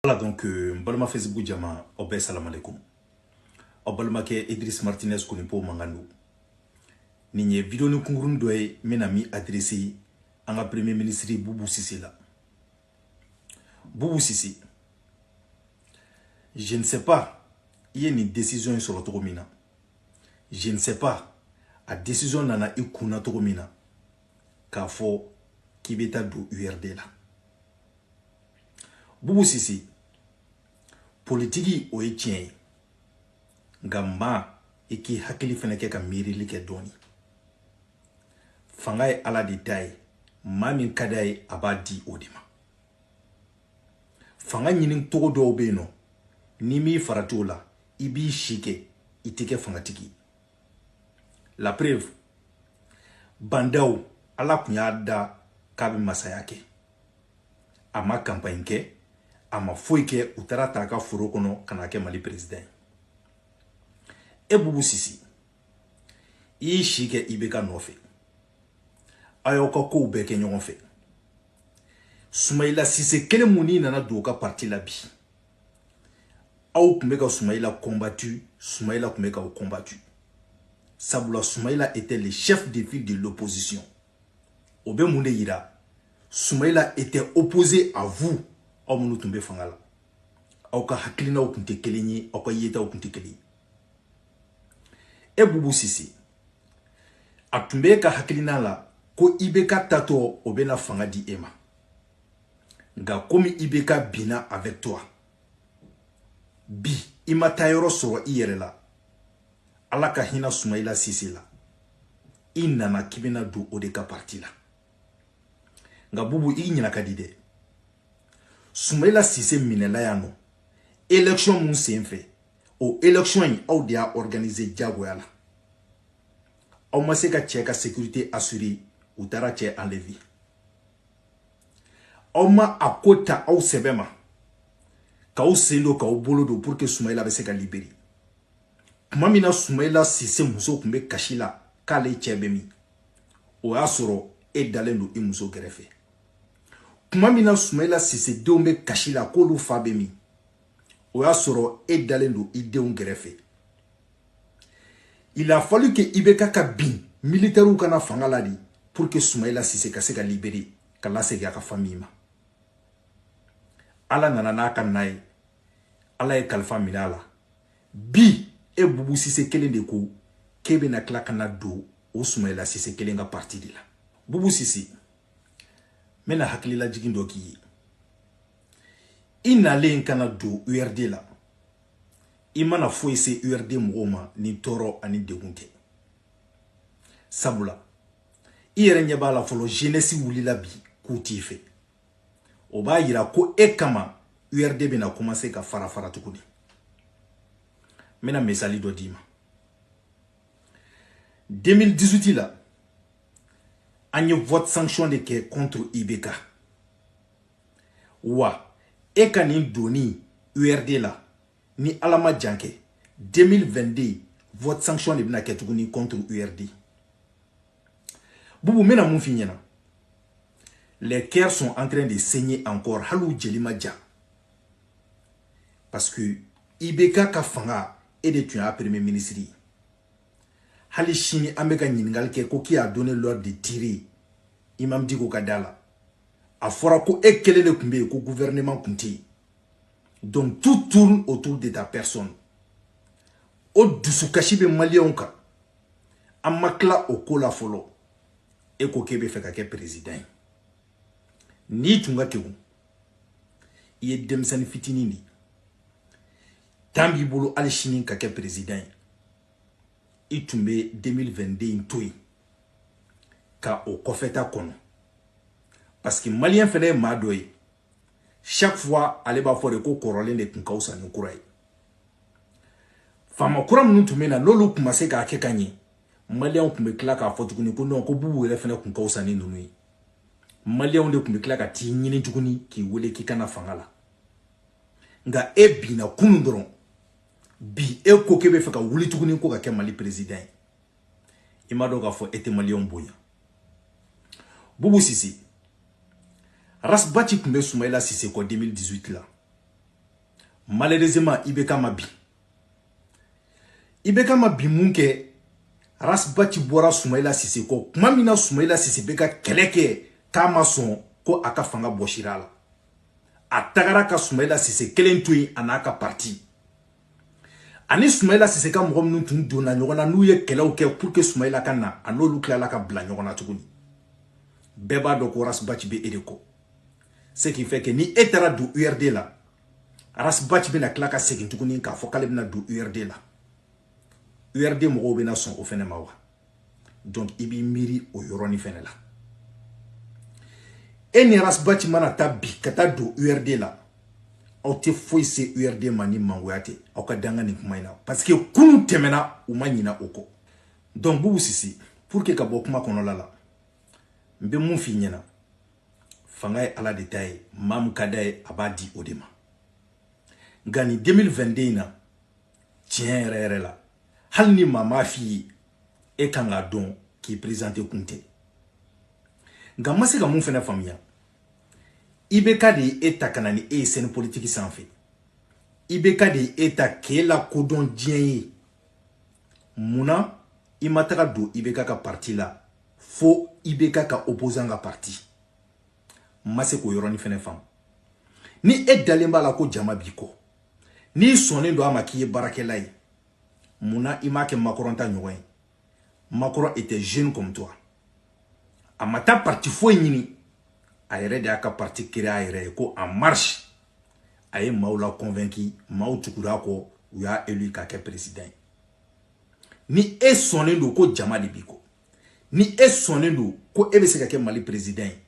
Voilà donc euh, n balima facebook jama aw bɛɛ salamalekum aw balimakɛ idris martinez konipo mankan don nin ye videoni kunkuruni dɔ ye n bɛna min adrese an ka premier ministre bubu sise la bubu sise je ne sais pas i ye nin décision in sɔrɔ cogo min na je ne sais pas a décision nana i kun na cogo min na k'a fɔ k'i bɛ taa don urd la bubu sise politiki o ye tiɲɛ ye nka maa i k'i hakili fana kɛ ka miirili kɛ dɔɔni fanga ye ala de ta ye maa min ka d'a ye a b'a di o de ma fanga ɲini cogo dɔw bɛ yen nɔ n'i m'i farati o la i b'i si kɛ i tɛ kɛ fangatigi ye la preuve ba ndaw ala tun y'a da k'a bɛ masaya kɛ a ma kanpaɲi kɛ a ma foyi kɛ u taara a ta a ka foro kɔnɔ ka na a kɛ mali peresidan ye e bubu sise i y'i si kɛ ibk nɔfɛ aw y'aw ka kow bɛɛ kɛ ɲɔgɔn fɛ sumayila sise kelen min i nana don o ka parti la bi aw tun bɛ ka sumayila combattu sumayila tun bɛ k'aw combattu sabula sumayila était le chef de file de l'opposition o bɛ mun de yira sumayila était opposé à vous aw minnu tun bɛ fanga la aw ka hakilinaw tun tɛ kelen ye aw ka yetaw tun tɛ kelen ye e bubu sise a tun bɛ e ka hakilina la ko ibk taatɔ o bɛna fanga di e ma nka komi ibk binna avec toi bi i ma taayɔrɔ sɔrɔ i yɛrɛ la ala ka hinɛ sumayila sise la i nana k'i bɛna don o de ka parti la nka bubu i ɲinɛ ka di dɛ sumayila sise minɛla yan nɔ élection min sen fɛ o élection in aw de y'a organiser diyagoya la aw ma se ka cɛ ka sécurité assurer u taara cɛ enlever aw ma a ko ta aw sɛbɛ ma k'aw sen don k'aw bolo don pour que sumayila bɛ se ka libere tuma min na sumayila sise muso tun bɛ kasi la k'ale cɛ bɛ min o y'a sɔrɔ e dalen don i muso kɛrɛfɛ tuma min na sumayila sise denw bɛ kasi la k'olu fa bɛ min o y'a sɔrɔ e dalen don i denw kɛrɛfɛ Il a fallu que IBK ka bin militaires ka na fanga la de pour que Soumaïla Cissé ka se ka libérer ka lasegin a ka famille ma Ala nana n'a ka na ye Ala ye kalifa minɛ a la bi e Boubou Cissé kelen de ko k'e bɛna tila ka na don o Soumaïla Cissé kelen ka parti de la Boubou Cissé n bɛna hakililajigin dɔ k'i ye i nalen ka na don URD la i ma na foyi se urd mɔgɔw ma ni tɔɔrɔ ani degun tɛ sabula i yɛrɛ ɲɛ b'a la fɔlɔ jenɛsi wulila bi k'u t'i fɛ o b'a yira ko e kama urd bɛna kɔmanse ka fara fara tuguni n bɛna misali dɔ d'i ma 2018 la an ye vote sanction de kɛ contre ibk wa e ka nin donni urd la ni ala ma jan kɛ 2022 vote sanction de bɛna kɛ tuguni contre urd bubu n bɛna mun f'i ɲɛna les cœurs sont en train de saigner encore hali u jeli ma ja parce que ibk ka fanga e de tun y'a premier ministre ye hali sini an bɛ ka ɲininkali kɛ ko qui a donné l'ordre de tirer imam diko ka da la a fɔra ko e kelen de tun bɛ yen ko gouvernement tun tɛ yen Donc tout tourne autour de ta personne. O dusukasi bɛ maliyɛnw kan an ma tila o ko la fɔlɔ e ko k'e bɛ fɛ ka kɛ perezidan ye n'i tun ka kegun i ye denmisɛnnin fitinin de temps b'i bolo hali sini ka kɛ perezidan ye i tun bɛ 2022 in to yen ka o kɔfɛta kɔnɔ parce que maliyɛn fana ye maa dɔ ye chaque fois ale b'a fɔ de ko kɔrɔlen de tun ka fisa ni kura ye faama kura minnu tun bɛ na n'olu tun ma se k'a kɛ ka ɲɛ maliyɛnw tun bɛ tila k'a fɔ tuguni ko non ko bubu yɛrɛ fana tun ka fisa ni ninnu ye maliyɛnw de tun bɛ tila ka t'i ɲini tuguni k'i wele k'i ka na fanga la nka e binna kunun dɔrɔn bi e ko k'e bɛ fɛ ka wuli tuguni ko ka kɛ mali peresidan ye i m'a dɔn k'a fɔ e tɛ maliyɛnw bonya bubu sise rasbati tun bɛ sumayila sise kɔ 2018 la malheureusement ibk ma bin ibk ma bin minkɛ rasbati bɔra sumayila sise kɔ tuma min na sumayila sise bɛ ka kɛlɛ kɛ k'a ma sɔn ko a ka fanga bɔsira a la a tagara ka sumayila sise kelen to yen a n'a ka parti ani sumayila sise ka mɔgɔ minnu tun donna ɲɔgɔn na n'u ye kɛlɛw kɛ pour que sumayila ka na a n'olu tilala ka bila ɲɔgɔn na tuguni bɛɛ b'a dɔn ko rasbaci bɛ e de kɔ ce qui fait que ni e taara don urd la rasbaci bɛna tila ka segin tuguni k'a fɔ k'ale bɛna don urd la urd mɔgɔw bɛna sɔn o fɛnɛ ma wa donc i b'i miiri o yɔrɔnin fɛnɛ la e ni arasibati mana taa bi ka taa don urd la aw tɛ foyi se urd ma ni mangoya tɛ aw ka da n ka nin kuma in na parce que kunun tɛmɛna u ma ɲina o kɔ donc bubu sise pour que ka bɔ kuma kɔnɔla la n bɛ mun f'i ɲɛna fanga ye ala de ta ye maa min ka d'a ye a b'a di o de ma nka nin 2022 in na tiɲɛ yɛrɛ yɛrɛ la hali ni maa m'a f'i ye e kan k'a dɔn k'i présenter kun tɛ nka n ma se ka mun fana faamuya ibk de ye e ta ka na ni e ye scène politique sanfɛ ibk de ye e ta k'e lakodɔn diɲɛ ye mun na i ma taga don ibk ka parti la fo ibk ka opposant ka parti n ma se k'o yɔrɔnin fana faamu ni e dalen b'a la ko jama b'i kɔ n'i sɔnnen don a ma k'i ye baarakɛla ye mun na i m'a kɛ makɔrɔn ta ɲɔgɔn ye makɔrɔn était jeune comme toi a ma taa parti foyi ɲini a yɛrɛ de y'a ka parti créer a yɛrɛ ye ko en marche a ye maaw la convaincu maaw tugura a kɔ u y'a élu k'a kɛ président ye ni e sɔnnen don ko jama de b'i kɔ ni e sɔnnen don ko e bɛ se ka kɛ mali président ye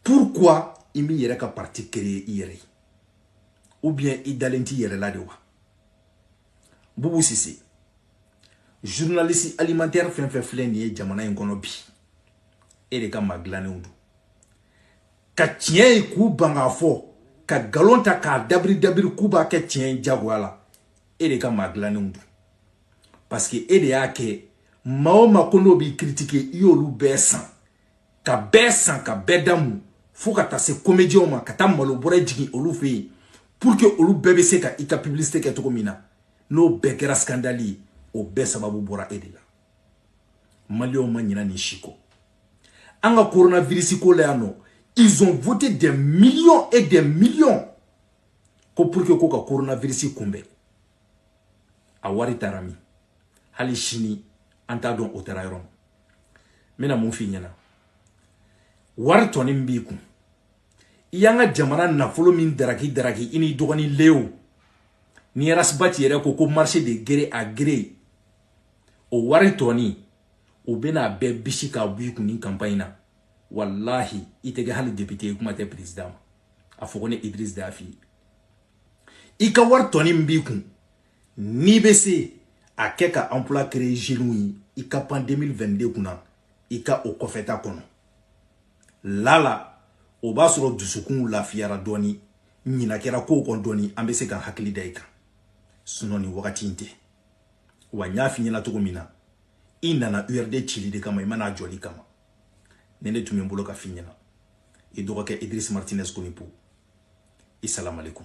pourquoi i m'i yɛrɛ ka parti créer i yɛrɛ ye ou bien i dalen t'i yɛrɛ la de wa bubu sise journaliste alimentaire fɛn fɛn filɛ nin ye jamana in kɔnɔ bi e de ka maa dilannenw don ka tiɲɛ ye k'u ban k'a fɔ ka nkalon ta k'a dabiri dabiri k'u b'a kɛ tiɲɛ ye jagoya la e de ka maa dilannenw don parce que e de y'a kɛ maa o maa ko n'o b'i critiquer i y'olu bɛɛ san ka bɛɛ san ka bɛɛ da mun fo ka taa se komediyɛnw ma ka taa malo bɔrɛ jigin olu fɛ yen pour que olu bɛɛ bɛ se ka i ka publicité kɛ cogo min na n'o bɛɛ kɛra scandale ye o bɛɛ sababu bɔra e de la maliyɛnw ma ɲina nin si kɔ an ka coronavirus ko la yan nɔ ils ont voté des millions et des millions ko pour que ko ka coronavirus kunbɛn a wari taara min hali sini an t'a dɔn o taara yɔrɔ min n bɛna mun f'i ɲɛna wari tɔni min b'i kun i y'an ka jamana nafolo min daraki daraki i n'i dɔgɔnin leo ni rasibati yɛrɛ ko ko marché de gré à gré o wari tɔni o bɛn'a bɛɛ bisi k'a b'i kun ni campagne na walahi i tɛ kɛ hali député ye kuma tɛ président ma a fɔ ko ne Idriss d'a f'i i ka wari tɔni min b'i kun n'i bɛ se a kɛ ka emploi créer jeunes ye i ka pan 2022 kunna i ka o kɔfɛta kɔnɔ lala o b'a sɔrɔ dusukunw lafiyara dɔɔni ɲina kɛra kow kɔ dɔɔni an bɛ se ka hakili da i kan sinɔn nin wagati in tɛ wa n y'a f'i ɲɛna cogo min na i nana urd cili de kama i ma na a jɔli kama nin de tun bɛ n bolo ka f'i ɲɛna i dɔgɔkɛ idris martinez konipo i salamalekum